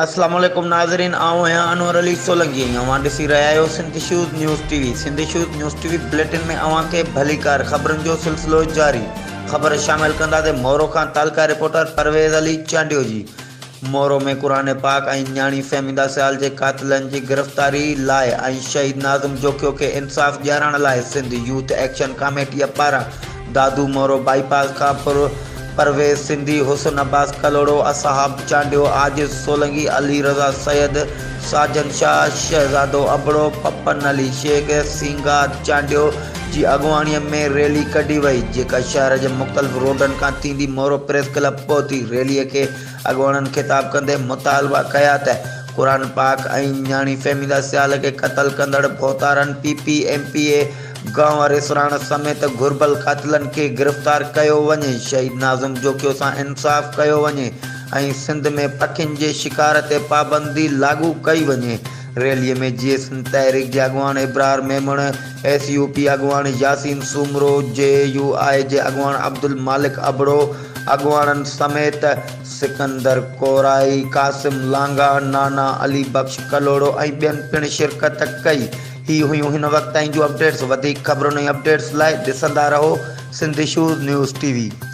السلام عليڪم ناظرين آئون آهيان انور علي سولنگي ۽ اوهان ڏسي رهيا آهيو Sindh shows news T V Sindh shows news T V bulletin ۾ اوهان کي ڀليڪار خبرن جو سلسلو جاري خبر شامل ڪندا تي مورو کان تعلقه رپورٽر پرويز علي چانڊيو جي مورو ۾ قرآن پاڪ ۽ نياڻي فهميده سيال جي قاتلن جي گرفتاري لاء ۽ شهيد ناظم جوکيو کي انصاف ڏيارڻ لاء سنڌ يوٿ ايڪشن ڪاميٽيء پاران دادو مورو بائي پاس کان پر پرويز سنڌي، حسن عباس ڪلهوڙو، اصحاب چانڊيو، عاجز سولنگي، علي رضا سيد، ساجن شاهه، شهزادو ابڙو، پپن علي شيخ، سينگار چانڊيو، جي اڳواڻيء ۾ ريلي ڪڍي وئي، جيڪا شهر جي مختلف روڊن کان ٿيندي مورو پريس ڪلب پهتي. ريليء کي اڳواڻن خطاب ڪندي مطالبا ڪيا ته قرآن پاڪ ۽ نياڻي فهميده سيال کي قتل ڪندڙ ڀوتارن P P M P A گانء واري سرهاڻ سميت گهربل قاتلن کي گرفتار ڪيو وڃي، شهيد ناظم جوکيو سان انصاف ڪيو وڃي ۽ سنڌ ۾ پکين جي شڪار تي پابندي لاڳو ڪئي وڃي. ريلي ۾ جي ايس اين تحريڪ جي اڳواڻ Abrar Memon, S U P اڳواڻ ياسين سومرو، جي يو آء جي اڳواڻ عبدالمالڪ ابڙو اڳواڻن سميت سڪندر ڪورائي، قاسم لانگاھ، نانا علي بخش ڪلهوڙو ۽ ٻين پڻ شرڪت ڪئي. هي هيون هن وقت تائين جون اپڊيٽس وڌيڪ خبرن ۽ اپڊيٽس لاء ڏسندا رهو Sindh issues news T V.